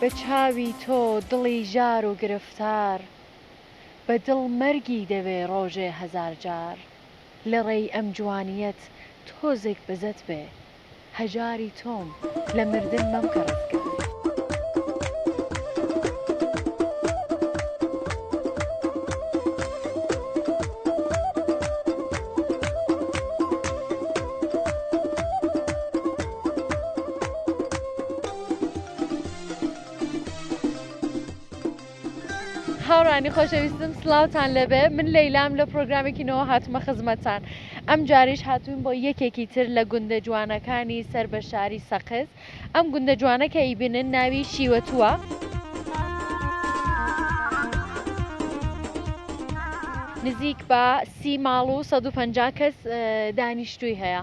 بە چاوی تۆ دڵی ژار و گرفتار بە دڵ مەرگی دەوێ ڕۆژێ هەزار جار لە ڕێی ئەم جوانیەت تۆزێک بزەت بێ هەژاری تۆم لە مردن مەمکە ڕزگار. هاوڕانی خۆشەویستم سلااوان لەبێ من لەیلام لە پرۆگرامێکی نەوە هاتمە خزمەتان ئەم جاریش هاتوون بۆ یەکێکی تر لە گوندە جوانەکانی سەر بە شاری سەقز ئەم گوندە جوانەکە ئیبنن ناوی شیوەتووە. نزیک بە سی ماڵ و 150 کەس دانیشتووی هەیە.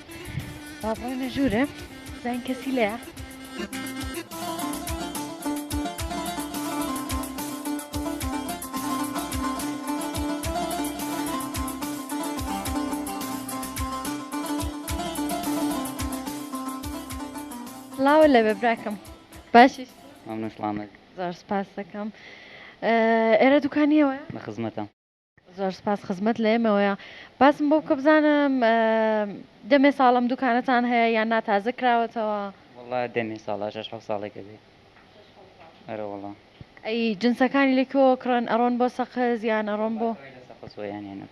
بابا لە ژوورە زین کەسی لەیە سلااو لە بە براکەم باشی زۆر سپاس دەکەم ئێرە دوکانیەوە بە خزمەتە زۆر سپاس خزمەت لە ئێمەوەیە باسم بۆ بکە بزانم دەمێ ساڵم دوکانەتان هەیە یان نا تازە کراوەتەوە وڵا دەمێ ساڵە شش حە ساڵێکە بێ ئەرەوەڵا ئەی جنسەکانی لەکۆ کڕن ئەڕۆن بۆ سەقز یان ئەڕۆن بۆ سەقسۆیانێنە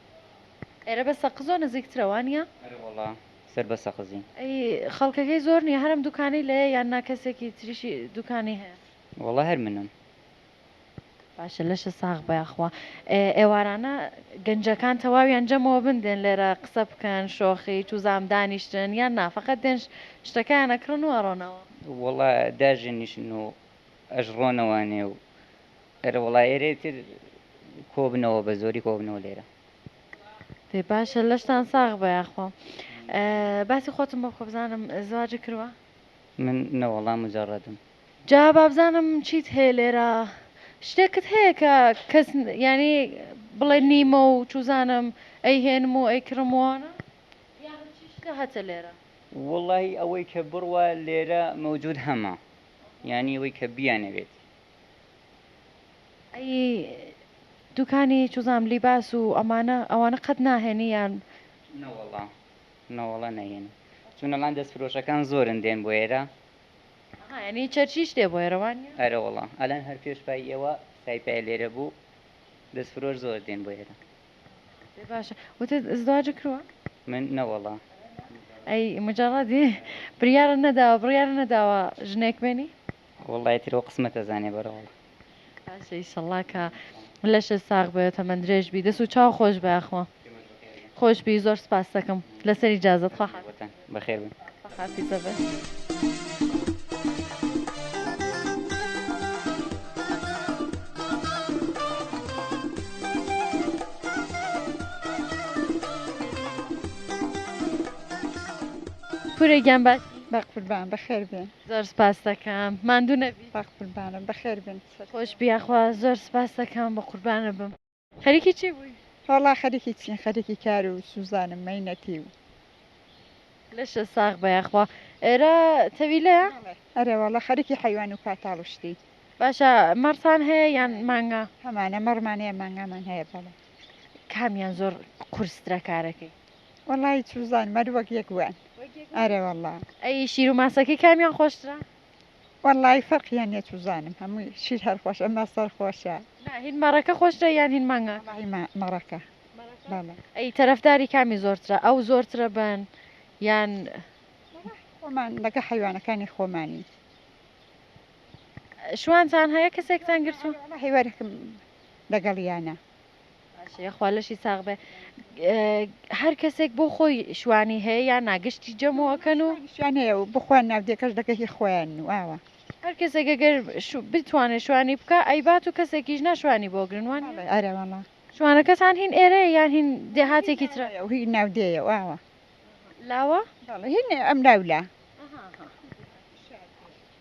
ئێرە بە سەقزۆ نزیکترەوانە ئەرەوەڵا سەر بە سەقزی ئەی خەڵکەکەی زۆر نیە هەرم دوکانی لەیە یان ناکەسێکی تریشی دوکانی هەیە وڵا هەر منم باشە لەشە ساغ بە یاخوا. ئێوارانە گەنجەکان تەواویان جەمەوە بن دێن لێرە قسە بکەن شۆخی توزام دانیشتن یان نا فەقەت دێن شتەکەیان ئەکڕن و ئەڕۆنەوە. وەڵا داژەنیشن و ئەژڕۆنەوە نێو و ئەرە وەڵا ئێرەی تر کۆبنەوە بە زۆری کۆبنەوە لێرە. دەی باشە لەشتان ساغ بە یاخوا. باسی خۆتم بۆ بکە بزانم زواجی کروە؟ من نەوەڵا مجەڕەدم. جا بابزانم چیت هەیە لێرە شتێکت هەیە کە کەس یانی بڵێ نیمە و چوزانم ئەی هێنم و ئەی کڕم وانە یاخشتە هەتە لێرە. وەڵاهی ئەوەی کە بڕوا لێرە مەوجود هەمە یانی ئەوەی کە بیانەوێت. ئەی دوکانی چوزانم لیباس و ئەمانە ئەوانە قەت ناهێنی یان. نەوەڵا نەوەڵا نەهێنم چونەڵان دەست فرۆشەکان زۆرن دێن بۆ ئێرە. ئەها یانی چەرچیش لێ بوایە رەوا نیە؟ ئەرەوەڵا ئەلان هەر پێش پای ئێوە سای پایە لێرە بوو دەست فرۆش زۆر دێن بۆ ئێرە. ئێ باشە وتت ازدواج کروە؟ من نەوەڵا. ئەی مجەڕەدی بریارە نەداوە بڕیارە نەداوە ژنێک بێنی؟ وەڵا ئیتر ئەو قسمەتە زانێ بەرەوەڵا. ئیشەڵا کە لەشە ساغ بێت تەمەەن درێژ بی دەست و چاو خۆش بەخوا خۆش بی زۆر سپاس دەکەم لەسەری جازت خوا بەخێر حافیزە بێت. پورە گیان باش بەقوربان بەخێر بێن. زۆر سپاست دەکەم ماندوو نەبی. بەخ قوربانت بەخێر بێن سەر. خۆش بی یاخوا زۆر سپاست دەکەم بەقوربانت بم خەریکی چی بووی. وەڵا خەریکی چین خەریکی کار و سوزانم مەینەتی و. لەشت ساغ بە یاخوا ئێرە تەویلەیە. ئەرێ وەڵا خەریکی حەیوان و پاتاڵ و شتی. باشە مەڕتان هەیە یان مانگا. هەمانە مەڕمان هەیە مانگامان هەیە بەڵێ. کامیان زۆر قورسترە کارەکەی. وەڵا هیچ بزان مەر وەک یەک وان ئەرێ وەڵا ئەی شیر و ماسەکەی کامیان خۆشترە وەڵی فەرقیان یە چزانم هەمووی شیر هەر خۆش ئەمە سەر خۆشە هین مەڕەکە خۆشتە یان هین مانگا مەڕەکە ئەی تەرەفداری کامی زۆرترە ئەو زۆرترە بن یان خۆمان لەگە حیوانەکانی خۆمانی شوانتان هەیە کەسێکتان گرتو هیوارکم لەگەڵیانە باشە خوا لەشی ساغ بێ هەر کەسێک بۆ خۆی شوانی هەیە یا ناگشتی جەمەوەکەن و شوان هەیە و بخۆیان ناودێکەش دەکە هی خۆیان واوە هەر کەسێک گەر بتوانێ شوانی بکە ئەیبات و کەسێکیش ناشوانی بۆ گرنوان ئەرەوەڵە شوانەکەتان هین ئێرە یان هین دێهاتێکی تر هی ناودێە واوە لاوە هین ئەم ناولا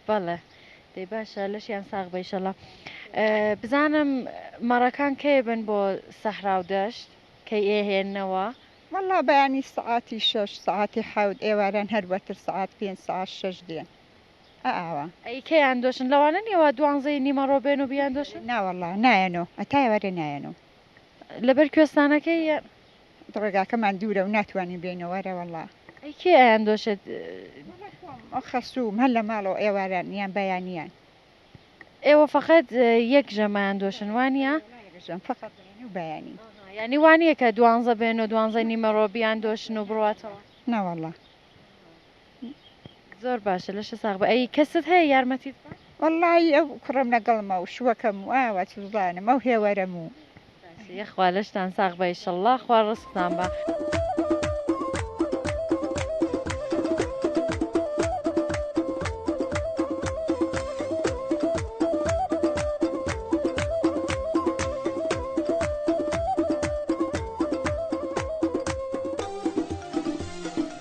بەڵێ دەی باشە لەشیان ساغ بە ئیشەڵا بزانم مەڕەکان کەی بن بۆ سەحرا و دەشت کەی ئێهێننەوە؟ وەڵا بەیانی سەعاتی شەش سەعاتی حەوت ئێواران هەر وەتر سەعات پێنج سەعات شەش دێن ئە ئاوا. ئەی کەیان دۆشن لەوانە نیە وا دوانزەی نیمەڕۆ بێن و بیاندۆشن؟ ناوەڵا نایەنۆ هەتا ئێوارێ نایەنۆ. لەبەر کوێستانەکەی یان؟ ڕێگاکەمان دوورە و ناتوانین بێینەوە رەوەڵا. ئەی کێ ئایاندۆشێت؟ وەڵا خۆم ئۆ خەسووم هەر لە ماڵەوە ئێواران یان بەیانیان. ئێوە فەقەت یەک ژەم ئایاندۆشن وانیە؟ وەڵا یەک ژەم فەقەت بەیانی و بەیانی. ئەها یانی وانیە کە دوانزە بێنۆ دوانزەی نیمەڕۆ بیاندۆشن و بڕواتەوە؟ نەوەڵا. زۆر باشە لەشە ساغ بە ئەی کەست هەیە یارمەتیت وەڵی ئەو کوڕم لەگەڵمە و شوەکەم و ئاوا چزانم ئەو هێوەرەم و یخوا لەشتان ساغ بە ئیشەڵڵا خوا ڕستان بە.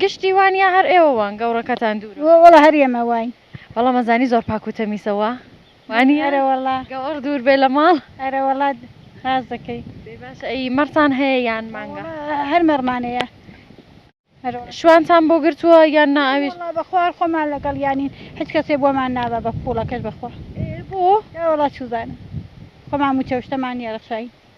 گشتی وان یا هەر ئێوە وان گەوڕەکەتان دوورە؟ وەڵا هەر ئێمە واین. بەڵام ئەزانی زۆر پاک و تەمیسە وا؟ وانیە؟ ئەرە وەڵا. گەوەڕ دوور بێ لە ماڵ؟ ئەرە وەڵا ڕاست دەکەی. دەی باشە ئەی مەڕتان هەیە یان مانگا؟ وەڵا هەر مەڕمان هەیە. شوانتان بۆ گرتووە یان نا ئەویش؟ وەڵا بەخوا هەر خۆمان لەگەڵیانین هیچ کەسێ بۆمان نابا بە پووڵەکەش بەخوا. ئێ بۆ؟ ئێ وەڵا چوزانم خۆمان مووچە و شتەمان نییە ڕەخساین.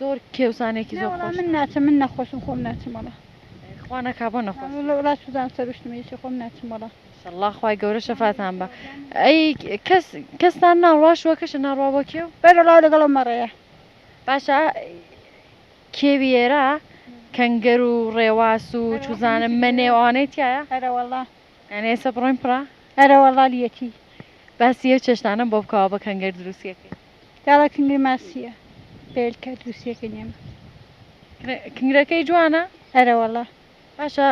زۆر کێوسانێکی زۆر خۆش. نەوەڵا من ناچم من نەخۆشم خۆم ناچم وەڵا. خوا نەکا بۆ نەخۆش. وەڵا وەڵا سوزان سەروشتم ئیشی خۆم ناچم وەڵا. ئیشەڵڵا خوای گەورە شەفاتان با. ئەی کەس کەستان ناڕوا شوەکەشە ناڕوا بۆ کێو؟ بەرەڵاو لەگەڵ ئەو مەڕەیە. باشە کێوی ئێرە کەنگەر و ڕێواس و چوزانم مەنێ و ئەوانەی تیایە؟ ئەرەوەڵا. یانی ئێسە بڕۆین پڕە؟ ئەرەوەڵا لیەتی. باسی ئەو چێشتانەم بۆ بکەوە بە کەنگەر دروستیەکەی. داڵە کنگرە ماسیە بێل کە دووسیە کە نیە من. کنگرەکەی جوانە؟ ئەرەوەڵا. باشە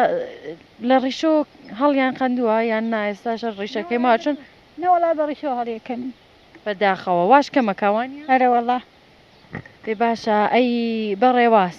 لە ڕیشۆ هەڵیان قەندووە یان نا ئێستاشە ڕیشەکەی ماوە چون. نەوەڵا بە ڕیشۆ هەڵیەکەنن. بەداخەوە واش کەمەکە وانیە؟ ئەرەوەڵا. ئێ باشە ئەی بە ڕێواس.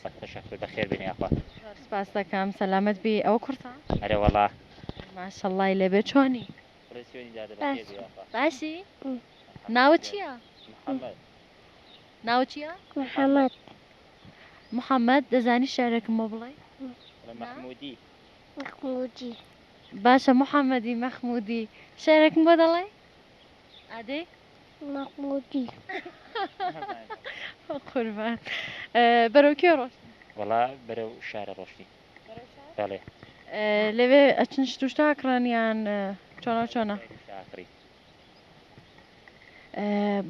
سەگ خوشە خوی بەخێر بێنی یاخوا. زۆر سپاست دەکەم سەلامەت بی ئەوە کورتە؟ ئەرێ وەڵا. ماشەڵڵای لێبێ چۆنی؟ بڵێ سوێنی دادە بەخێر بێ یاخوا. باشی؟ ناوت چییە؟ محمد. ناوت چییە؟ محمد. محمد دەزانی شعرێکم بۆ بڵێی؟ بڵێ مەحمودی. مەخمودی. باشە محمدی مەخمودی شعرێکم بۆ دەڵێی؟ ئادەی مەحمودی قوربان بەرەو کوێ ڕۆشت وەڵا بەرەو شارە ڕۆشتی بەڵێ لەوێ ئەچن شتوشتا کڕانیان چۆنە چۆنە شاکڕی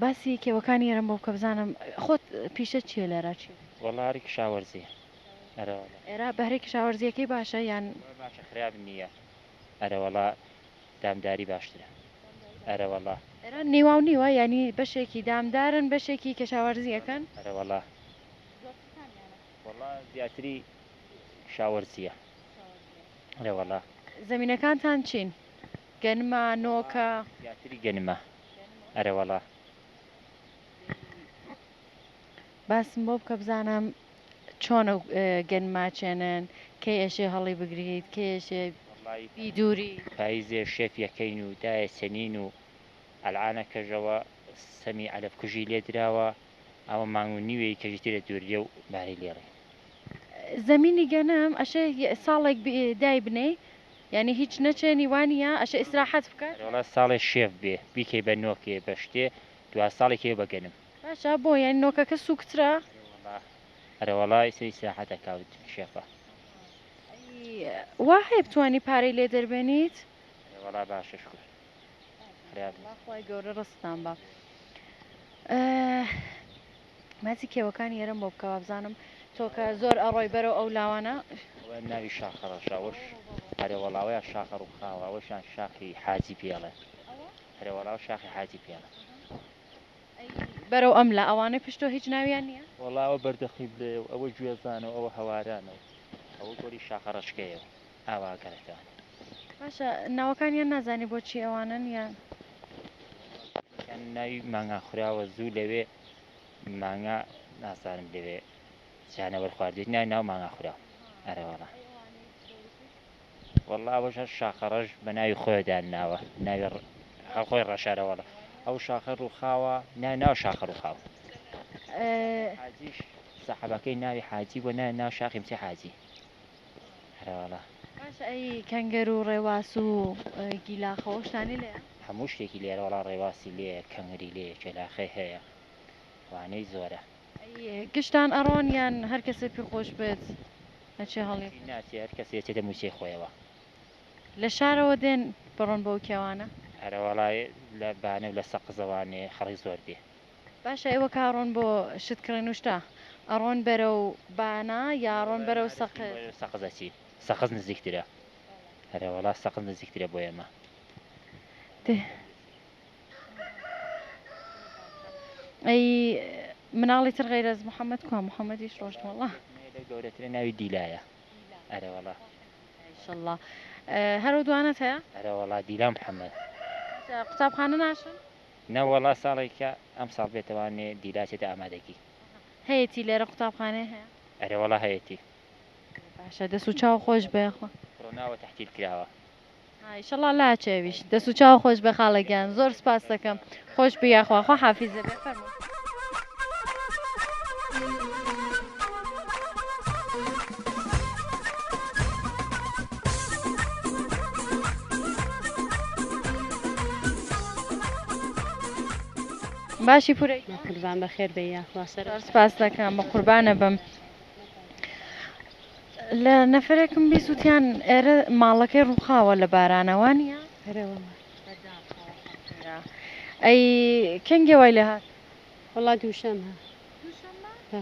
باسی کێوەکانی ئێرم بۆ کە بزانم خۆت پیشە چیە لێرە چی وەڵاری کشاوەرزی ئەرەوەڵا ئێرا بەهرێکی شاوەرزیەکەی باشە یان باشە خراپ نییە ئەرەوەڵا دامداری باشترە ئەرەوەڵا. ئێران نیواو نیوە یانی بەشێکی دامدارن بەشێکی کەشاوەرزی ئەکەن؟ ئەرەوەڵا وەڵا زیاتری کشاوەرزیە ئەرەوەڵا. زەمینەکانتان چین؟ گەنمە؟ نۆکە؟ زیاتری گەنمە ئەرەوەڵا. باسم بۆ بکە بزانم چۆن ئەو گەن ماچێنن کەی ئەشێ هەڵی بگریت کەی ئەشێ بی دووری. پایزێ شێف یەکەین و دایە سەنین و ئەلعانە کەژەوە سەمی عەرەب کوژی لێ دراوە ئەوە مانگ و نیوێی کەژی تێدە دووریە و بارەی لێڕی. زەمینی گەنم ئەشێ ساڵێک دای بنێی یانی هیچ نەچێنی وانیە ئەشێ ئیسراحەت بکات. ئەرێوەڵا ساڵێ شێف بێ بیکەی بە نۆکێ بە شتێ دوا ساڵی کەیەوە بە گەنم. جا بۆ یانی نۆکەکە سوکترە. ئەرێوەڵا ئەرێوەڵا ئیسەی سیاحەتە کاوت کشێفە. ئەی وا هەیە بتوانی پارەی لێ دەربێنیت. ئەرێوەڵا باشە شکور خوریا بوو. خوای گەورە ڕزقتان با. باسی کێوەکانی ئێرەم بۆ بکە وابزانم تۆ کە زۆر ئەڕۆی بەرەو ئەو لاوانە. ئەوەیان ناوی شاخە ڕەشە ئەوەش. ئەرێوەڵا ئەوەیان شاخە ڕووخاوە ئەوەشیان شاخی حاجی پێڵێ. ئەرێوەڵا ئەوە شاخی حاجی پێڵە. ئەی بەرەو ئەم لا ئەوانەی پشت تۆ هیچ ناویان نییە؟ وەڵا ئەوە بەردەقیبلەیە و ئەوە گوێزانە و ئەوە هەوارانە و. ئەوە گۆری شاخەڕەشکەیە و ئاوا گەڕەکانە. باشە ناوەکانیان نازانی بۆچی ئەوانەن یان. یەکێکیان ناوی مانگا خوراوە زوو لەوێ مانگا نازانم لەوێ جانەوەر خواردوێت ناوی ناو مانگا خوراو ئەرەوەڵا. وەڵا ئەوەش هەر شاخە ڕەش بە ناوی خۆیدان ناوە ناوی هەر خۆی ڕەشارە وەڵا ئەو شاخە ڕووخاوە نای ناو شاخە ڕووخاوە حاجیش سەحەبەکەی ناوی حاجی بۆ نای ناو شاخی بچی حاجی هەرواڵە باش ئەی کەنگەر و ڕێواس و گیلاخەوەشتانی لێ هەموو شتێکی لێرە وەڵا ڕێواسی لێ کەنگری لێ کێلاخەی هەیە وانەی زۆرە گشتان ئەڕۆن یان هەر کەسێ پێ خۆش بێت ئەچێ هەڵی؟ چی ناچێ هەر کەسێ ئەچێتە مووچەی خۆیەوە. لە شارەوە دێن بڕۆن بەو کێوانە؟ ئەرەوەڵا لە بانە و لە سەقزەوە نێ خەڵک زۆر دێ. باشە ئێوە کە ئەڕۆن بۆ شت کڕێن و شتە ئەڕۆن بەرەو بانە یا ئەڕۆن بەرەو سەقز؟ ئێمە بەرەو سەقز ئەچین سەقز نزیکترە. ئەرەوەڵا سەقز نزیکترە بۆ ئێمە. دێ ئەی مناڵی تر غیرەز محەممەد کوا محەممەدیش ڕۆشت وڵا گەورەترە ناوی دیلایە ئەرەوەڵا شله هەرو دوانە هەیە ئەرەوەڵا دیلام حەمەد قوتابخانە ناشن نەوەڵا ساڵێکە ئەم ساڵ بێتەوانێ دیلاچێتە ئامادەگی هەیەی لێرە قوتابخانێ هەیە ئەرەوەڵا هەیەی باشە دەسو چاو خۆش بەخۆ ڕۆناوە تحتیل کراوە ئیشەڵا لاچێویش دەست و چاو خۆش بێ خاڵە گیان زۆر سپاستەکەم خۆش بی یاخوا خۆ حافیزە بێ فەرمو باشی پورە قوربان بەخێر بێ یاخوا سەر سپاستەکەم بە قوربانە بم. لە نەفەرێکم بیست وتیان ئێرە ماڵەکەی ڕووخاوە لە بارانە وانە؟ ئەی کەنگێ وای لە هات وڵات دووشەم هە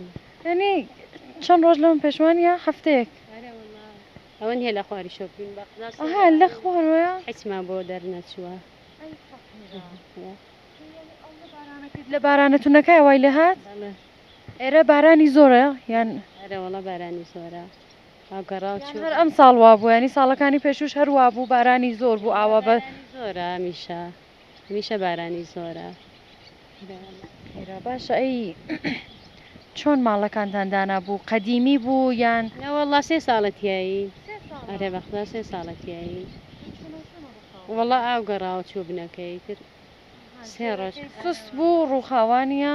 ینی چەند ڕۆژ لەم پێشوان یا هەفتەیەک ئەوەن هێ لە خواری شۆپین بەها لە خوارە حچما بۆ دەرنەچووە لە بارانەکە وای لە هات ئێرە بارانی زۆرە یان؟ ئەرێ وەڵا بارانی زۆرە ئاو گەڕاو چوو. هەر ئەم ساڵ وا بوو ینی ساڵەکانی پێشوش هەر وا بوو بارانی زۆر بوو ئاوا بە زۆرە هەمیشە هەمیشە بارانی زۆرە. ئێرە باشە ئەی چۆن ماڵەکانتان دانا بوو قەدیمی بوو یان؟ نە وەڵا سێ ساڵە تیایی ئەرێ بەخدا سێ ساڵە تیایی وەڵا ئاو گەڕاوە چوو بنەکەی تر سێ ڕۆژ سست بوو ڕووخاوانە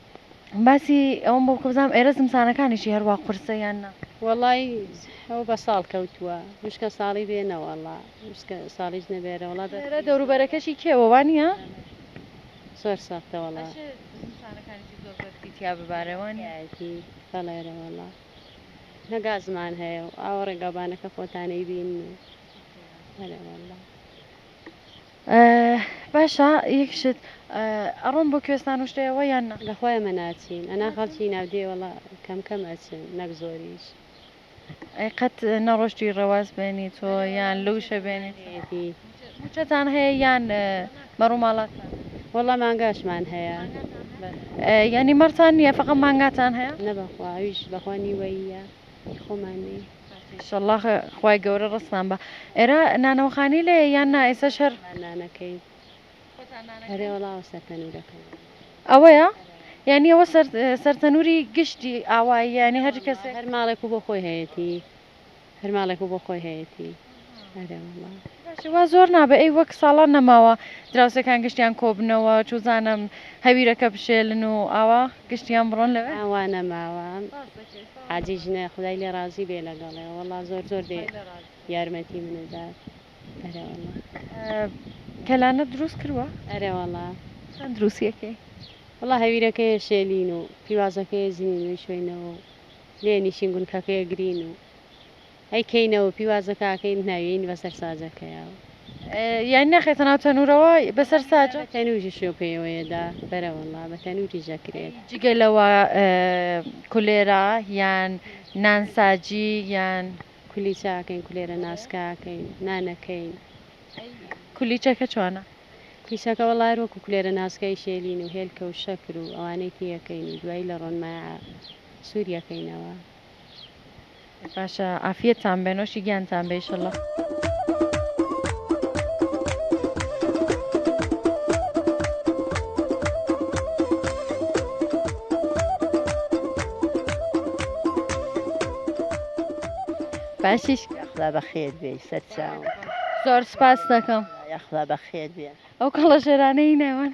باسی ئەوەم بۆ بکە بزانم ئێرە زمسانەکانیشی هەروا قورسە یان نا؟ وەڵای ئەو بە ساڵ کەوتووە وشکە ساڵی بێ نەوەڵا وشکە ساڵیش نەبێ ئەرە وڵا دەت ئێرە دەورو بەرەکەشی کێوە وا نییە؟ زۆر سەختە وەڵا ئەشێ زمسانەکانیشی زۆر بەرزی تیا ببارێ وا نییە؟ تیایەتی بەڵێ ئەرە وەڵا نە گازمان هەیە و ئاوە ڕێگاوبانەکە خۆتانەیبین و ئەرێ وەڵا. باشە یەک شت ئەڕۆن بۆ کوێستان و شتێەوە یان نا؟ لە خۆی ئەمە ناچین ئەنا خەڵکی ناودێ وەڵا کەم کەم ئەچن نەک زۆریش. ئەی قەت نەڕۆشتوی ڕەواس بێنی تۆ یان لوشە بێنی ئەدی. موچەتان هەیە یان بە ڕوماڵاتان؟ وەڵا مانگاشمان هەیە بەس. یانی مەڕتان نیە فەقە مانگاتان هەیە؟ نە بەخوا ئەویش بەخوا نیوەییە. هی خۆمان نیە. ئیشەڵا خوای گەورە ڕەسمان با. ئێرە نانەوە خانی لێیە یان نا ئێسەش هەر. خۆتان نانەکەین. خۆتان نانەکەین. ئەرێ وەڵا ئەوە سەر تەنورەکەمە. ئەوەیە؟ یانی ئەوە سەر سەر تەنوری گشتی ئاواییە یانی هەر کەسێک. هەر ماڵێکو بۆ خۆی هەیەتی. هەر ماڵێکو بۆ خۆی هەیەتی. ئەرێ وەڵا. باشە وا زۆر نابێ ئەی وەک ساڵان نەماوە دراوسێکان گشتیان کۆبنەوە چوزانم هەویرەکە بشێلن و ئاوا گشتیان بڕۆن لە ئا وا نەماوە حاجی ژنە خودای لێ ڕازی بێ لەگەڵێ وەڵا زۆر زۆر بێ یارمەتی منە دات ئەرێ وەڵا. کەلانەت دروست کروە؟ ئەرێ وەڵا. چەند دروستی ئەکەی؟ وەڵا هەویرەکەیە شێلین و پیوازەکەیە زینین و ئیشۆینەوە و لێ نیشین گونکەکەیە گرین و. ئەی کەی نەوە پیوازە کە ئەکەین ناویەین بەسەر ساجە کەیاوە. یانی ناخەیتە ناو تەنورەوە بەسەر ساجە؟ نا بە تەنوری شێو پێیەوەیە دا بەرە وەڵا بە تەنوریش ئەکرێت. یانی جگە لەوە کولێرە یان نان ساجی یان. کولیچە ئەکەین کولێرە ناسکە ئەکەین نان ئەکەین. ئەی کولیچەکە چۆنە؟ کولیچەکە وەڵا هەر وەکو کولێرە ناسکەی شێلین و هێلکە و شەکر و ئەوانەی تێیەکەین و دوای لە ڕۆنمایە سوریەکەینەوە. باشە عافیەتتان بێ نۆشی گیانتان بێ ئیشەڵڵا. باشیش خدا بەخێر بێ سەرچاو زۆر سپاس دەکەم یاخوا بەخێر بێ ئەو کەڵەژێرانەی نێوان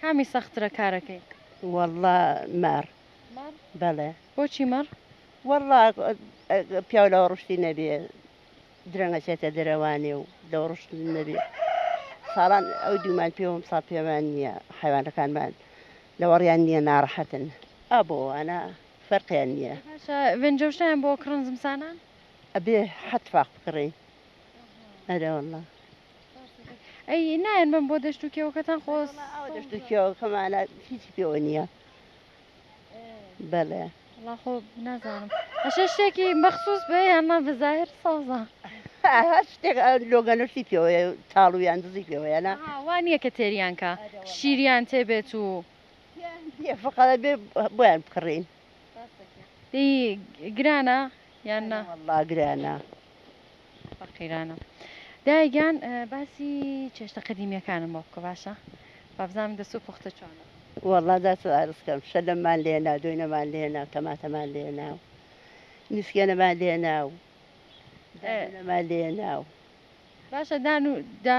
کامی سەخترە کارەکەی. وەڵڵا مەڕ مەڕ بەڵێ. بۆچی مەڕ؟ وەڵڵا پیاو لەوە ڕشتی نەبێ درەنگ ئەچێتە دەرەوانێ و لەوە ڕشت نەبێ ساڵان ئەو دوومان پێوە ئەمساڵ پێمان نییە حەیوانەکانمان لەوەڕیان نییە ناڕەحەتن ئا بۆ وانە فەرقیان نییە. ئەی باشە ڤێن جەوشنیان بۆ کڕن زمسانان؟ ئەبێ حەت فاخ بکڕین. ئەرێ وەڵڵا. ئەی نایەن بم بۆ دەشت و کێوەکەتان خۆز دەشت و کێوەکەمانە هیچی پێوە نییە بەڵێ خۆ نازانم ئەشە شتێکی مەخصوص بێ یاننا بەزاهر سازە هەر شتێک لۆگەنەشتی پێوە تاڵویان دزی پێوەیانە وان نیە کە تێریانکە شیریان تێبێت و فقەڵ بێ بۆیان بکڕین گرانە یان نا گرانە فەقیرانە دایە گیان باسی چێشتە قەدیمیەکانم بۆ بکە باشە با بزانم دەست و پوختە چۆنە. وەڵا دەست و ئارسکەم شەلەممان لێنا دۆینەمان لێنا تەماتەمان لێنا و نسکێنەمان لێنا و دانونەمان لێنا و. باشە دان و دا.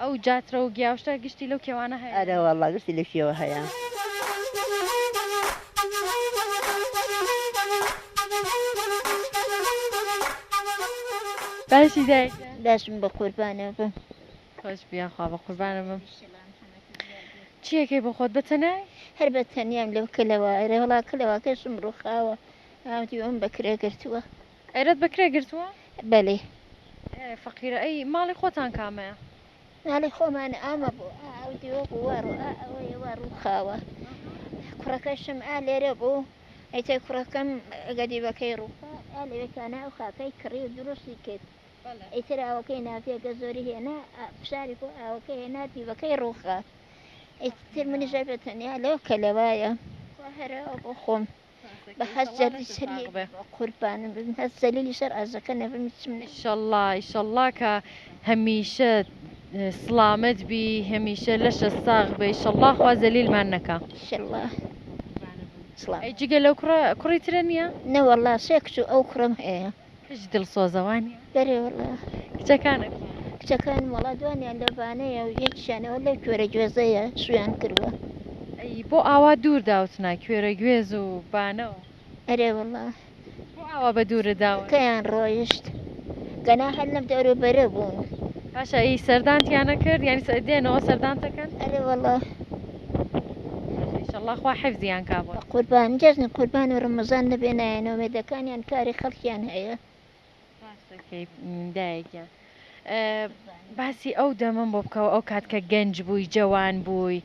ئەو جاترە و گیاوشە گشتی لەو کێوانە هەیە. ئەرێ وەڵا گشتی لە کێوە هەیە. باشی دایک جان. باشم بەقوربانە بم. خۆش بی یاخوا بەقوربانە بم. چیەکەی بۆ خۆت بەتەنای؟ هەر بەتەنیام لەو کەلەوە ئەرێ وەڵا کەلەوەکەشم ڕوخاوە ئاودیوم بەکرێ گرتووە. ئێرەت بە کرێ گرتووە؟ بەلی. ئێ فەقیرە ئەی ماڵی خۆتان کامەیە؟ ماڵی خۆمان ئامە بوو ئا ئەو دیوە بوو وا ڕوو ئا ئەوەیە وا ڕووخاوە کوڕەکەشم ئا لێرە بوو ئیتر کوڕەکەم ئەگە دیوەکەی ڕووخا ئا لەوێ تانا ئەو خاکەی کڕی و دروستی کرد ئیتر ئاوەکەی ناردی ئەگە زۆری هێنا ئا فشاری بۆ ئاوەکەی هێنا دیوەکەی ڕووخا ئیتر منیش ئەبێ تەنیا لەو کەلەوایە خوا هەرە ئەو بۆ خۆم. بە هەست جەلی شەریک بێ قوربانم بم هەست جەلیلی شەر ئاژەکە نەبم هیچم نە ئیشەڵڵا ئیشەڵڵا کە هەمیشە سڵامەت بی هەمیشە لەشە ساغ بێ ئیشەڵڵا خوا زەلیلمان نەکا شەڵڵا سڵام ئەی جگە لەو کوڕە کوڕی ترە نییە؟ نەوەڵڵا سێ کچ و ئەو کوڕەم هەیە کچ دڵسۆزە وانیە؟ بەرێ وەڵا. کچەکانت؟ کچەکانم وەڵا دوانیان لە بانەیە و یەکیشیانەوە لەو کوێرە گوێزەیە شوویان کردووە. ئەی بۆ ئاوا دوور داوتنە کوێرە گوێز و بانە و. ئەرێ وەڵا. بۆ ئاوا بە دوورت داون؟ کەیان ڕۆیشت؟ گەنا هەر لەم دەورە و بەرە بوون. باشە ئەی سەردانتیان نەکرد؟ یانی دێنەوە سەردانتەکەن؟ ئەرێ وەڵا. ماشاءاللە خوا حفزیان کا بۆت. بەقوربان جەژنی قوربان و ڕەمەزان نەبێ نایە نۆمێدەکانیان کاری خەڵکیان هەیە. ڕاست دەکەیت دایە گیان. باسی ئەو دەمەم بۆ بکەوە ئەو کات کە گەنج بووی جەوان بووی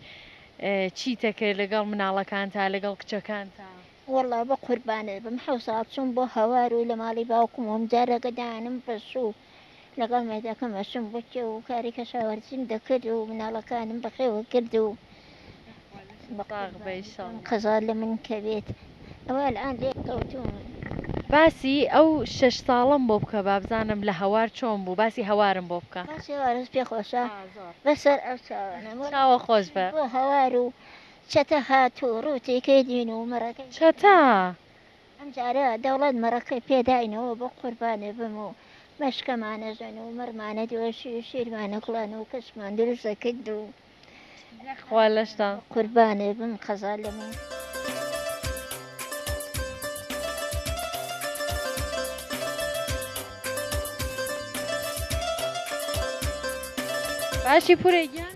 چیتەکرد لەگەڵ مناڵەکانتا لەگەڵ کچەکانتا. وەڵا بەقوربانت بم حەوساڵ چووم بۆ هەوار و لە ماڵی باوکم وم جارەگە دانم بەسوو لەگەڵ مێردەکەم ئەچووم بۆ کێو و کاری کەشاوەرزیم دەکرد و مناڵەکانم بەخێوە کرد و ساغ بە ئیشەڵڵا. قەزا لە من کەوێت ئەوە ئەلئان لێکەوتووم. باسی ئەو شەش ساڵەم بۆ بکە بابزانم لە هەوار چۆن بوو باسی هەوارم بۆ بکە. باسی هەوارت پێ خۆشە؟ ئا زۆر. بە سەر ئەو چاوانە مۆ چاوە خۆش بە. بۆ هەوار و چەتە هات و ڕووتی کەی دین و مەڕەکەی. چەتە. ئەمجارە دەوڵەت مەڕەکەی پێ داینەوە بۆ قوربانی بم و مەشکەمان ئەژەن و مەڕمان ئەدۆشی و شیرمان ئەکوڵان و کەشمان دروست ئەکرد و خوا لەشتا قوربانی بم قەزا لەمە. باشی پورێ گیان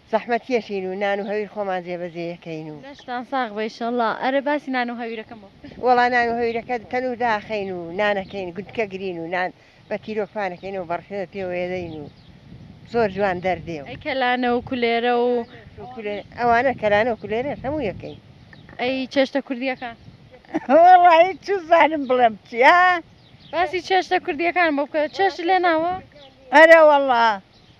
زەحمەتکێشین و نان و هەویر خۆمان جێبەجێ ئەکەین و. لەشتان ساغ بێ ئیشەڵا. ئەرێ باسی نان و هەویرەکەم بۆ بکە. وەڵا نان و هەویرەکە تەنور داخەین و نان ئەکەین گوندکە گرین و نان بە تیرۆک پان ئەکەینەوە بە ڕفێوە پێوە ئەدەین و زۆر جوان دەردێ و. ئەی کەلانە و کولێرە و. کولێرە ئەوانە کەلانە و کولێرەش هەمووی ئەکەین. ئەی چێشتە کوردیەکان. وەڵاهی چزانم بڵێم چیا. باسی چێشتە کوردیەکانم بۆ بکە چێشت لێ ناوە. ئەرێ وەڵا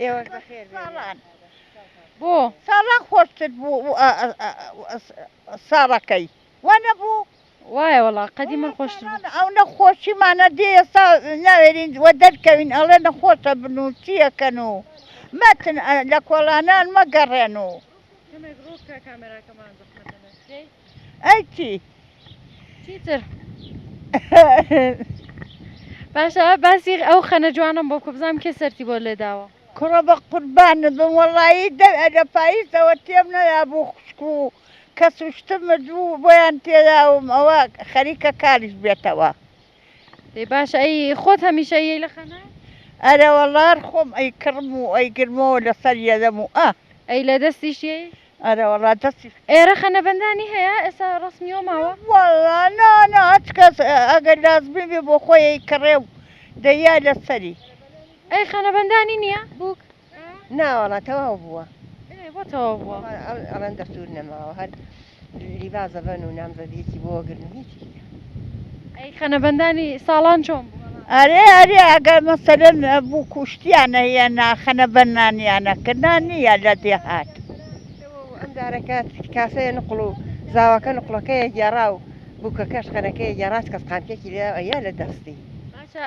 ئێوەش بەخێر ساڵان بۆ ساڵان خۆشتر بوو ساڵەکەی وا نەبوو وایە وڵا قەدی من خۆشتر ئەو نەخۆشیمانە دێ ئێستا ناوێرین وە دەرکەوین ئەڵێ نەخۆشە بن و چیەکەن و مەتن لە کۆڵانان مەگەڕێن و ئەی چی چیتر باشە باسی ئەو خەنە جوانم بۆ کو بزانم کێ سەرتی بۆ لێداوە کوڕە بە قوربانت بم وەڵایی دە لە پاییزەوە تێم نەیابوو خوشک و کەس و شتم مردبوو بۆیان تێیاوم ئەوە خەریکە کاریش بێتەوە ئەی باشە ئەی خۆت هەمیشە یەی لە خەنە؟ ئەرێ وەڵا خۆم ئەی کڕم و ئەی گرمەوە لەسەر یەدەم و ئە. ئەی لە دەستیش یەی؟ ئەرێ وەڵا دەستی. ئێرە خەنەبەندانی هەیە ئێستا ڕەسمیەوە ماوە؟ وەڵا نا نا هەچ کەس ئەگەر لازمی بێ بۆ خۆی ئەی کڕێ و دەیا لەسەری. ئەی خەنەبەندانی نیە بووک؟ نا وەڵا تەواو بووە بۆ تەواو بووە ئەڵەن دەستور نەماوە هەر لیبا زەبەن و نامزەدیەکی بۆ گرن هیچی ئەی خەنەبەندانی ساڵان چۆن ئەرێ ئەرێ ئەگەر مەسەرن بوو کوشتیانە یە ناخەنە بەنانیانە کە نانیە لە دێهات ئەم دارەکەات کاسەیە نقڵ و زاواکە نقڵەکەیە گێڕا و بووکە کەش خەنەکەی گێڕاس کەس قامکێکی لە ئەە لە دەستی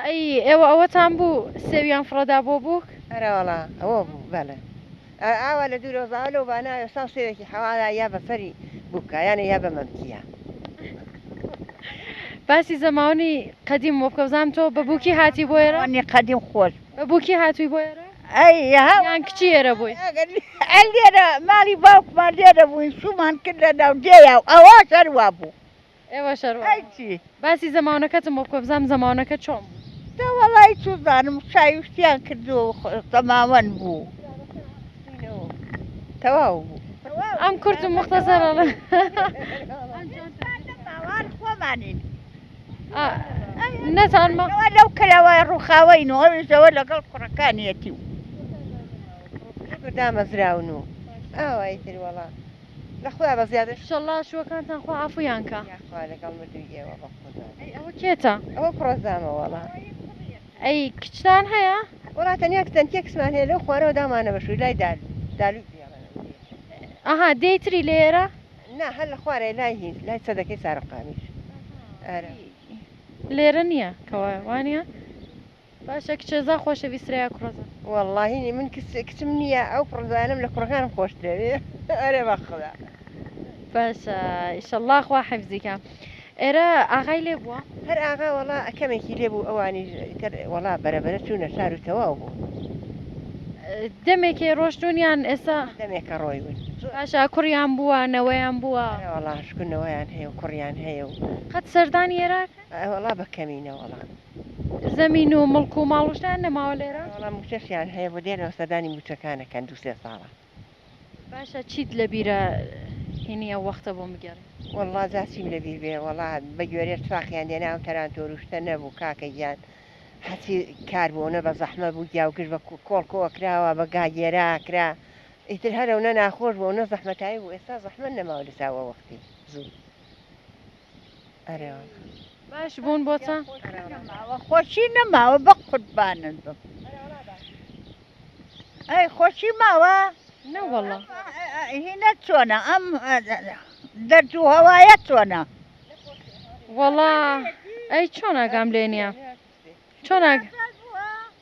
ئەی ئێوە ئەوەتان بوو سێویان فڕەدا بۆ بووک ئەرەوەڵا ئەوە بوو بەڵێ. ئاوا لە دوورەوە زاوا لەو باناوێ ساو سێوێکی حەوالا یا بە سەری بووکا یانێ یا بە مەمکیا. باسی زەماونی قەدیم بۆ بکە بزانم تۆ بە بووکی هاتی بۆ ئێرە؟ زەماونی قەدیم خۆش بوو. بە بووکی هاتووی بۆ ئێرە؟ ئەی ها یان کچی ئێرە بووی؟ ئەگەر لێرە ماڵی باوکمان لێرە بووین شوومان کرد لە ناو دێیا و ئەواش هەروا بوو. ئێوە شەرمن ئەی چی باسی زەماونەکەتم بۆ بکە بزانم زەماونەکە چۆن بوو. دە وەڵای چوزانم چای وشتیان کردوە و زەماوەند بوو تەواو بوو. ئەم کورت و موختەسەرە لە باوان خۆمانین نەتان ما ئەوە لەو کەلاوای ڕوخاوەین و ئەویش ئەوە لەگەڵ کوڕەکانیەتی و دامەزراون و ئاوایی تر وەڵا. لە خودا بە زیادەش ئیشەڵا شووەکانتان خوا عەفوویان کا. یاخوا لەگەڵ مردووی ئێوە بەخودا. ئەی ئەوە کێتە؟ ئەوە کوڕە زامە وەڵا. ئەی کچتان هەیە؟ وەڵا تەنیا کچەنتیە کچمان هەیە لەو خوارەوە دامانە بە شووی لای دالو دالوی جیاوازە. ئەها دێی تری لێرە؟ نا هەر لە خوارێ لای هیند لای چەدەکەی سارەقامیش ئەرا. لێرە نییە کەوایە وانیە؟ باشە کچەزا خۆشە ویسرە یا کوڕەزا. وەڵاهی نی من کچ کچم نییە ئەو کوڕەزایانەم لە کوڕەکانم خۆشترە ئێ ئەرێ بەخودا. باشە ئیشەڵڵا خوا حیفزی کا. ئێرە ئاغای لێ بووە؟ هەر ئاغا وەڵا کەمێکی لێ بوو ئەوانیش ئیتر وەڵا بەرە بەرە چوونە شار و تەواو بوو. دەمێکێ ڕۆشتوون یان ئێستا؟ دەمێکە ڕۆیون. باشە کوڕیان بووە نەوەیان بووە؟ ئەرێ وەڵا شکو نەوەیان هەیە و کوڕیان هەیە و. قەت سەردانی ئێرە ئەکەن؟ ئەرێ وەڵا بە کەمینە وەڵا. زەمین و مڵک و ماڵ و شتان نەماوە لێرە؟ نەوەڵا موچەشیان هەیە بۆ دێنەوە سەردانی موچەکانەکەن دوو سێ ساڵە. باشە چیت لەبیرە هینی ئەو وەختە بۆم بگێڕی. وەڵا جا چیم لەبیر بێ وەڵا بە گوێرێ تفاقیان دێناو تەرانتۆر و شتە نەبوو کاکە گیان هەرچی کار بوو ئەونە بە زەحمەت بوو گیا و گشت بە کۆڵ کۆ ئەکراوە بە گا گێرا ئەکرا ئیتر هەر ئەونە ناخۆش بوو ئەونە زەحمەتایی بوو ئێستا زەحمەت نەماوە لە چاو ئەو وەختی زوو. ئەرێوە باش بوون بۆچە خۆشی نەماوە بە قوربانت بم ئەی خۆشی ماوە نەوەڵە هینە چۆنە ئەم دەردوو هەوایە چۆنە وەڵا ئەی چۆن ئاگام لێ نییە چۆن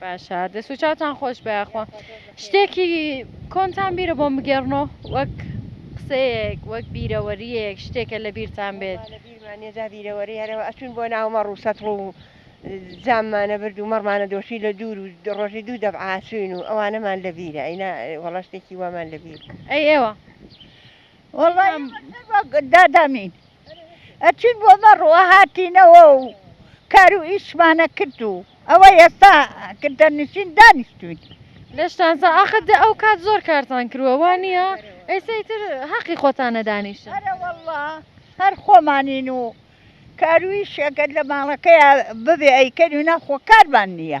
باشە دەست و چاوتان خۆش بە یاخوا شتێکی کۆنتان بیرە بۆم بگێڕنۆ وەک قسەیەک وەک بیرەوەریەک شتێکە لە بیرتان بێت بیرمانێدا بیرەوەری هەرەوە ئەچون بۆ ناومە ڕووسەتڵ و زاممانە برد و مەڕمانە دۆشی لە دوور و ڕۆژی دوو دەبعاچوین و ئەوانەمان لە بیرە ئەینا وەڵا شتێکی وامان لە بیر ئەی ئێوە وەڵام دادامین. ئەچین بۆ مەڕوە هاتینەوە و کار و ئیشمانە کرد و ئەوە ئێستا گردەنشین دانیشتوین. لەشتان ساغ ئاخر دە ئەو کات زۆر کارتان کروە وا نیە ئێستا ئیتر هەقی خۆتانە دانیشن. ئەرەوەڵڵا هەر خۆمانین و کاروئیش ئەگەر لە ماڵەکەیا ببێ ئەیکەین و ناخۆ کارمان نیە.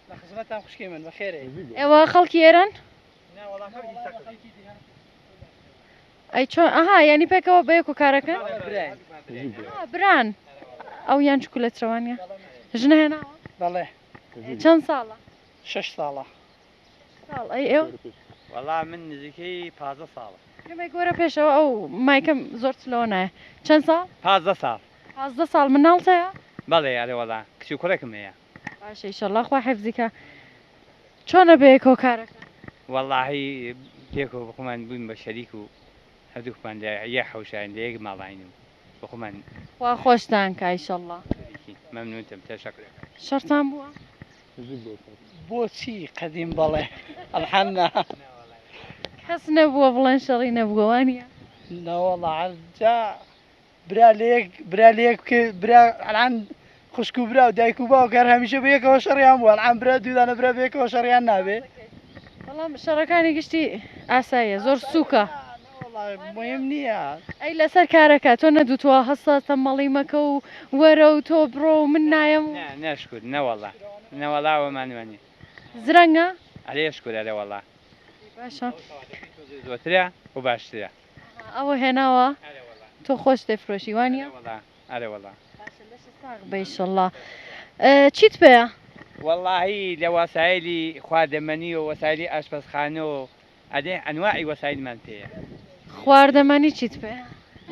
ئێوە خەڵکی ئێران ئەی چۆن ئەها ینی پێکەوە بەیەک و کارەکە بران ئەو یان چکو لە چوانە ژنە هێنا بەڵێ چەند ساڵە شش ساڵە ساڵ ئەی ئێوە وەڵا من نزیکەی پازە ساڵە گۆرە پێشەوە ئەو مایکەم زۆر لەوە نایە چەند ساڵ پازە ساڵ پازدە ساڵ مناڵتەیە بەڵێ ئەرێ وەڵا کچی کوڕێکم هەیە باشە ئیشەڵا خوا حفزی کا چۆنە بەیەکەوە کارەکە. وەڵاهی پێکەوە بەخۆمان بووین بە شەریک و هەردووکمان لە یە حەوشاین لە یەک ماڵاین و بەخۆمان. خوا خۆشتان کا ئیشەڵا. شەریکین مەمنونتم تەشەکر ئەکەم. شەڕتان بووە؟ بۆچی قەدیم بەڵێ الحمدللە. کەس نەبووە بڵێن شەڕی نەبووە وانیە؟ نەوەڵا عەرجە برا لە یەک برا لە یەک بکە برا ئەلان خوشک و برا و دایک و باوکە هەر هەمیشە بە یەکەوە شەڕیان بووە ئەلان برا دوودانە برا بە یەکەوە شەڕیان نابێ بەڵام شەڕەکانی گشتی ئاساییە زۆر سووکە وەڵاهی مهم نییە ئەی لەسەر کارەکە تۆ نەدوتوە هەستا تەمەڵی مەکە و وەرە و تۆ بڕۆ و من نایەم و نا نا شکور نەوەڵا نەوەڵا ئەوەمان وانیە زرەنگە؟ ئەرێ شکور ئەرێ وەڵا باشە. زۆترە و باشترە. ئەها ئەوە هێناوە تۆ خۆش تێفرۆشی وانیە؟ ئەرێ وەڵا. باشە لەشت ساغ بێ ئیشەڵا. چیت پێیە؟ وەڵاهی لە واسایلی خواردەمەنی و وەسایلی ئاشپەزخانە و ئەدێ ئەنواعی وەسایلمان پێیە. خواردەمەنی چیت پێیە؟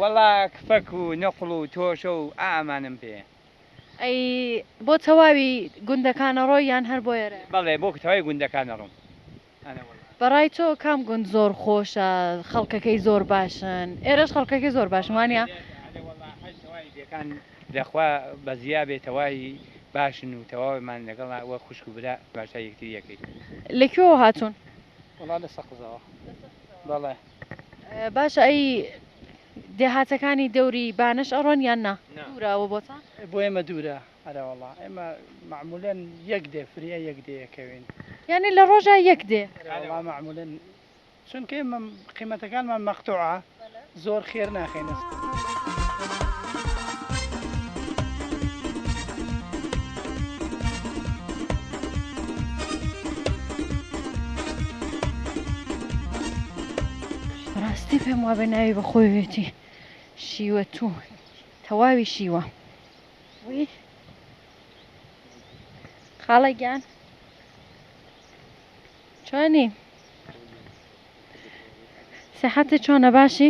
وەڵا کفەک و نوقڵ و تۆشە و ئا ئەمانەم پێیە. ئەی بۆ تەواوی گوندەکان ئەڕۆی یان هەر بۆ ئێرەیە؟ بەڵێ بۆ تەواوی گوندەکان ئەڕۆم. بەڕای تۆ کام گوند زۆر خۆشە خەڵکەکەی زۆر باشن ئێرەش خەڵکەکەی زۆر باشن وانە. دەخوا بەزیا بێ تەواهی باشن و تەواوێمان لەگەڵ وەک خوشک و برا تەماشای یەکتری ئەکەین. لە کوێوە هاتوون؟ وەڵا لە سەقزەوە بەڵێ. باشە ئەی دێهاتەکانی دەوری بانەش ئەڕۆن یان نا؟ دوورە ئەوە بۆتان؟ بۆ ئێمە دوورە. ئەرەوەڵا ئێمە مەعمولەن یەک دێ فریە یەک دێ یەکەوین یانی لە ڕۆژە یەک دێ ئەرەوەڵا مەعمولەن چونکە ئێمە قیمەتەکانمان مەقتوعە زۆر خێر ناخەینە. بەڕاستی پێم وابێ ناوی بەخۆیەتی شیوە توو تەواوی شیوە. وی خاڵە گیان چۆنی سەحەتە چۆنە باشی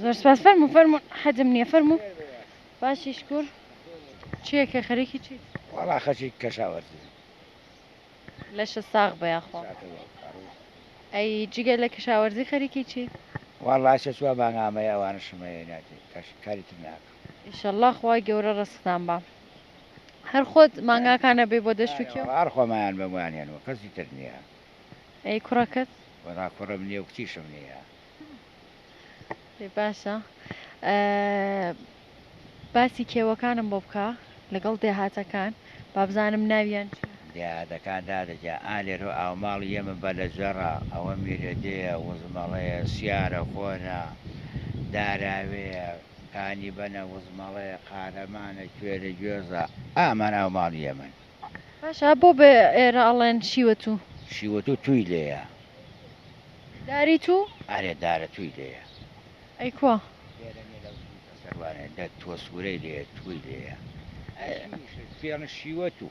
زۆر سپاس فەرمو فەرمو حەدم نییە فەرمو باشی شکور چیەکە خەرێکی چی وڵا خەچی کەشاوەرزی لەشە ساغ بە یاخوا ئەی جگە لە کەشاوەرزی خەریکی چی وڵا شە چوە مانگامەیە ئەوانە شمەیە ناتی کاری تر ناکە ئیشەڵا خوای گەورە ڕسقتان با هەر خۆت مانگاکان ئەبەی بۆ دەشت و کێو؟ هەر خۆمایان بەمویان هێنوە کەسی تر نیە. ئەی کوڕەکەت؟ وەڵا کوڕم نیە و کچیشم نیە. ئەی باشە باسی کێوەکانم بۆ بکە لەگەڵ دێهاتەکان بابزانم ناویان چیە؟ دێهاتەکان دادە گیان ئا لێرۆ ئاوماڵی ئێمە بەلەجەڕە ئەوە میرەدێیە وزمەڵەیە سیارە خۆنە داراوێیە. کانی بەنە وزمەڵەیە قارەمانە کوێرە گوێزە ئامەنا و ماڵی یەمەن. باشە بۆ بە ئێرە ئەڵێن شیوەتوو؟ شیوەتوو تووی لێیە. داری توو؟ ئەرێ دارە تووی لێیە. ئەی کوا؟ لێرە نیە لەو سووچە سەروانێ دە تووە سوورەی لێیە تووی لێیە. ئەی شیویشت پێڵن شیوەتوو.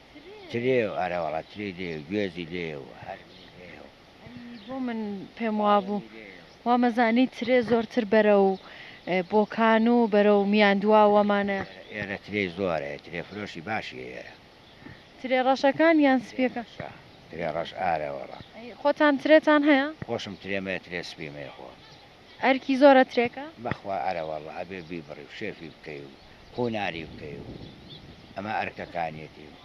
ترێ و ئەرە وەڵا ترێ لێ و گوێزی لێ و هەر بۆ من پێم وابوو وامەزانی ترێ زۆرتر بەرە و بۆکان و بەرە و میان دواوەمانە ئێرە ترێ زۆرە ترێ فرۆشی باشی ئێرە ترێ ڕەشەکان یان سپیەکە ترێ ڕەش ئارە وەڵا خۆتان ترێتان هەیە خۆشم ترێمەیە ترێ سپیمەیە خۆ. ئەرکی زۆرە ترێکە. بەخوا ئەرەوەڵڵ ئەبێ بیبڕی و شێفی بکەی و قوناری بکەی و ئەمە ئەرکەکانیەتی و.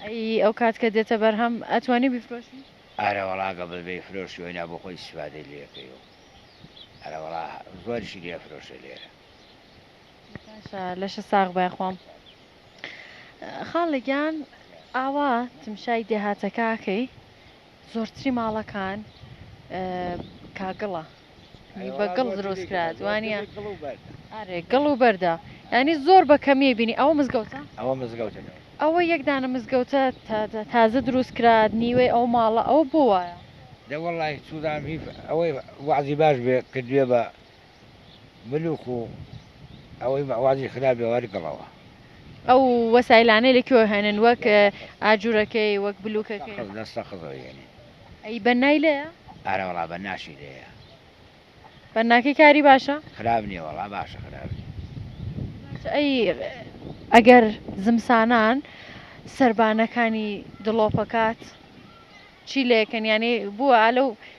ئەی ئەو کات کە دێتە بەرهەم ئەتوانی بیفرۆشی؟ ئەرەوەڵا گە بە بیفرۆشی و ئینا بۆ خۆی ئیستیفادەی لێ کەی و ئەرەوەڵا زۆریشی لێ ئەفرۆشێ لێرە. باشە لەشە ساغ بە یاخوام. خاڵە گیان ئاوا تمشای دێهاتەکە ئەکەی زۆرتری ماڵەکان کاگڵە بە گڵ دروست کرات وانە ئەرێ گڵ و بەردە ینی زۆر بە کەمیە بینی ئەوە مزگەوتە ئەوە مزگەوتە ئەوە یەکدانە مزگەوتە تازە دروست کرات نیوەی ئەو ماڵە ئەو بۆ وایە دەوەڵی سوودام هیف ئەوەی وازی باش بێ کردوێ بە ملوک و ئەوەی مەعوازی خرابێ وەرگڵەوە. ئەو وەسایلانەی لە کوێوە هێنن وەک ئاجورەکەی وەک بلوکەکەی. سەقز لە سەقزەوە یێنین. ئەی بەننای لێیە؟ ئارە وەڵا بەنناشی لێیە. بەنناکەی کاری باشە؟ خراپ نیە وەڵا باشە خراپ نیە. جا ئەی ئەگەر زمسانان سەربانەکانی دڵۆپەکات چی لێکەن یانی بووە ئالەو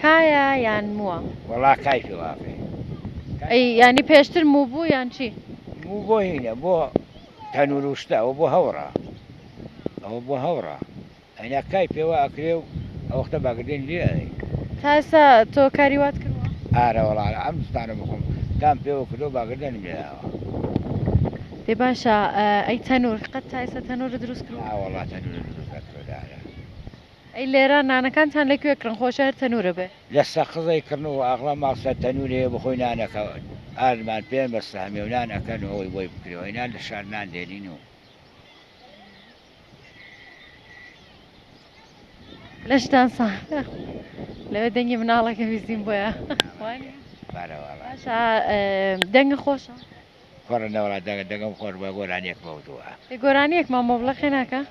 کایە یان مووە؟ وەڵا کای فیڵافێ کای ئەی فیڵافێ. یانی پێشتر موو بوو یان چی؟ موو بۆ هینە بۆ تەنورووشتە ئەوە بۆ هەوڕە ئەوە بۆ هەوڕە ئەینا کای پێوە ئەکرێ و ئەوەختە باگردێن لێ ئەی. تا ئێستا تۆ کاری وات کردووە؟ ئارە وەڵا ئەم زستانە بۆ خۆم کام پێوە کردووە باگردێنم لێ ئاوە. دەی باشە ئەی تەنوور قەت تا ئێستا تەنوورت دروست کردووە؟ نا وەڵا تەنوورم دروست نەکردووە دارە. ئەی لێرە نانەکانتان لە کوێ کڕن خۆشە هەر تەنورە بێ. لە سەقزەی کڕن و ئاغڵە ماڵ سەر تەنوری هەیە بخۆی نانەکە ئاردمان پێن بەستە هەمیەو نان ئەکەن و ئەوەی بۆی بکرێ و ئەینا لە شار نان دێنین و. لەشتان ساغ لەوێ دەنگی مناڵەکە بیستین بۆیە وانیە؟ باشە دەنگە خۆشە. کوڕە نەوەڵا دەنگە دەنگم خۆش بوە گۆرانیەک مەوتوە. ئێ گۆرانیەک مام مۆبڵە خێ ناکا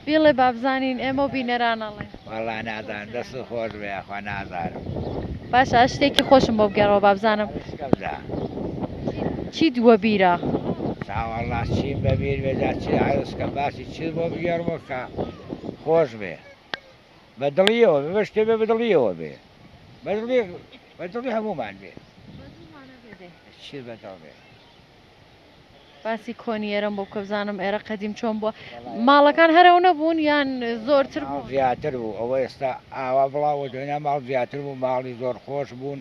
بیڵێ با بزانین ئێمەو بینەران ئەڵێ. وەڵا نازانم دەست و خۆش بێ یاخوا نازانم. باشە شتێکی خۆشم بۆ بگێڕەوە با بزانم. ئەڵێ شکم جا. چیت وەبیرە؟ جا وەڵا چیم بەبیر بێ جا چی عەرز کەم باسی چیت بۆ بگێڕمەوە کە خۆش بێ. بە دڵیەوە بێ بە شتێ بێ بە دڵیەوە بێ بە دڵی بە دڵی هەموومان بێ چی بە دڵ بێ باسی کۆنی ئێرەم بۆ بکە بزانم ئێرە قەدیم چۆن بووە ماڵەکان هەرەو نەبوون یان زۆرتر زیاتر بوو ئەوە ئێستا ئاوا بڵاوە دێنا ماڵ زیاتر بوو ماڵی زۆر خۆش بوون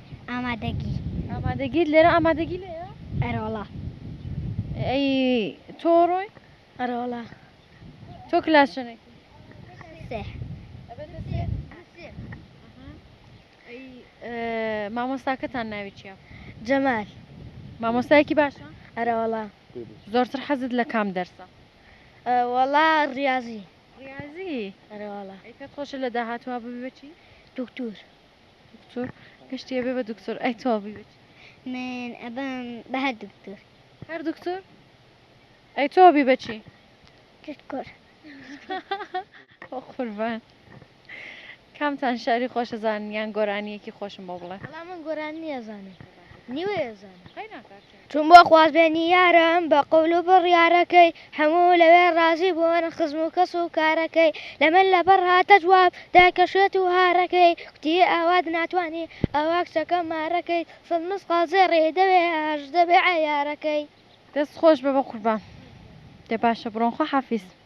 ئامادەگی ئامادەگیت لێرە ئامادەگی لێرە ئەرۆڵا ئەی تۆ ڕۆی ئەرۆڵا تۆ کلاسنێک مامۆستاکەتان ناوی چیە جەمال مامۆستایەکی باشە ئەرەوەڵا زۆرتر حەزت لە کام دەرسە وەڵا ڕاضی ڕاضی ئەرەوەڵا خۆشە لە داهاتوە ببێتی دکتور دکتور گشتی ئەبێ بە دکتور ئەی تۆ بی بچ من ئەبم بە هەر دکتور هەر دکتور ئەی تۆ بی بەچی دکتور قوربان کامتان شاری خۆشە زانیان گۆرانیەکی خۆشم بۆ بڵێ من گۆران نیەزانم نیوەێزان چووم بۆ خوازبێنی یارم بە قەول و بڕیارەکەی هەموو لەوێ ڕازی بوون خزم و کەس و کارەکەی لە من لەپڕ هاتە جواب دای کە شێت و هارەکەی کوتی ئاوات ناتوانی ئاوا کچەکە مارەکەی سەد مسقاڵ زێڕی دەوێ ئاش دەبێ عەیارەکەی. دەست خۆش بە بە قوربان. دە باشە بڕۆن خواحافیز.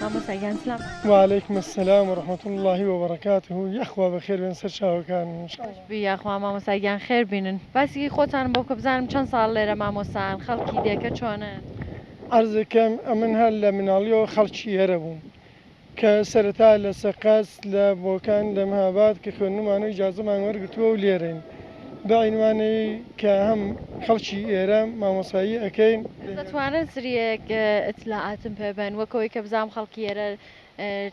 مامۆستا گیان سلام. وعلیکم السلام ورحمة اللە وبرکاته یاخوا بەخێر بێن سەر چاوەکانم ان شاء اللە. بژی یاخوا مامۆستا گیان خێر بینن باسی خۆتانم بۆ بکە بزانم چەند ساڵ لێرە مامۆستان خەڵکی دێکە چۆنن. عەرزەکەم ئەمن هەر لە مناڵیەوە خەڵکی ئێرە بووم کە سەرەتا لە سەقز لە بۆکان لە مهاباد کە خوێندنمانەوە ئیجازەمان وەرگرتووە و لێرەین. بەعینوانەی کە هەم خەڵکی ئێرە مامۆسایی ئەکەین. دەتوانن سریەک ئیتلاعاتم پێ بەن وەک ئەوەی کە بزانم خەڵکی ئێرە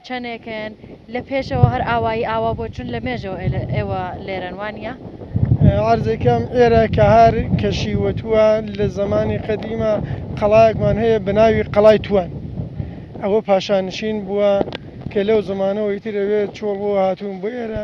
چەنێکن لە پێشەوە هەر ئاوایی ئاوا بۆ چون لە مێژەوە ئێوە لێرەن وانیە؟ عەرزەکەم ئێرە کە هار کەشی وە تووە لە زەمانی قەدیمە قەڵایەکمان هەیە بە ناوی قەڵای تووان ئەوە پاشانشین بووە کە لەو زەمانەوە ئیتر ئەوێ چۆڵ بۆ هاتوون بۆ ئێرە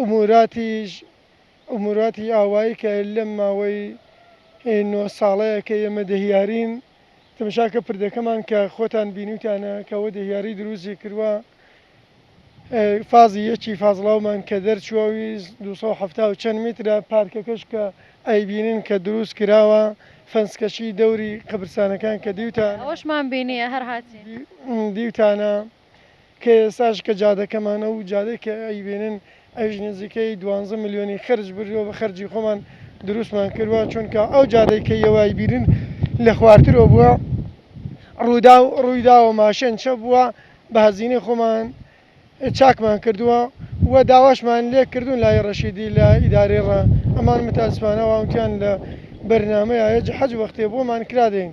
ئوموراتیش ئوموراتی ئاوایی کە لەم ماوەی نۆ ساڵەیە کە ئێمە دهیارین تەمشا کە پردەکەمان کە خۆتان بینیوتانە کە وە دهیاری دروستی کروە فازی یەکی فازڵاومان کە دەرچوە ویست دوو سەد و حەفتا و چەند میترە پارکەکەش کە ئەیبینن کە دروست کراوە فەنسکەچی دەوری قەبرسانەکان کە دیوتانە ئەوەشمان بینیە هەر هاتین. دیوتانە. کە ئێستاش کە جادەکەمانە و جادەی کە ئەیبینن ئەویش نزیکەی دوانزە ملیۆنی خەرج بردووە بە خەرجی خۆمان دروستمان کردووە چونکە ئەو جادەی کە ئێوە ئەیبینن لە خوارترەوە بووە ڕووداو ڕوویداوە ماشێن چەپ بووە بە هەزینەی خۆمان چاکمان کردووە و داواشمان لێ کردوون لای ڕەشیدی لە ئیدارەی ڕا ئەمان متاسفانە ئەوان وتیان لە بەرنامەیە حەج وەختێ بۆمان کرا دێین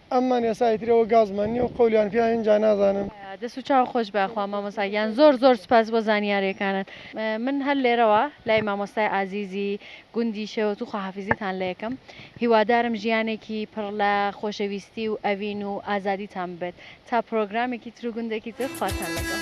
ئەممان یەسا ئیتر ئەوە گازمان نیە و قەولیان پیا ئینجا نازانم. دەست و چاو خۆش بە خوا مامۆستا گیان زۆر زۆر سوپاس بۆ زانیارێکانت من هەر لێرەوە لای مامۆستای ئازیزی گوندی شێوەتوو خواحافیزیتان لێ ئەکەم هیوادارم ژیانێکی پڕ لە خۆشەویستی و ئەوین و ئازادیتان بێت تا پرۆگرامێکی تر و گوندێکی تر خواتان لەگەڵ.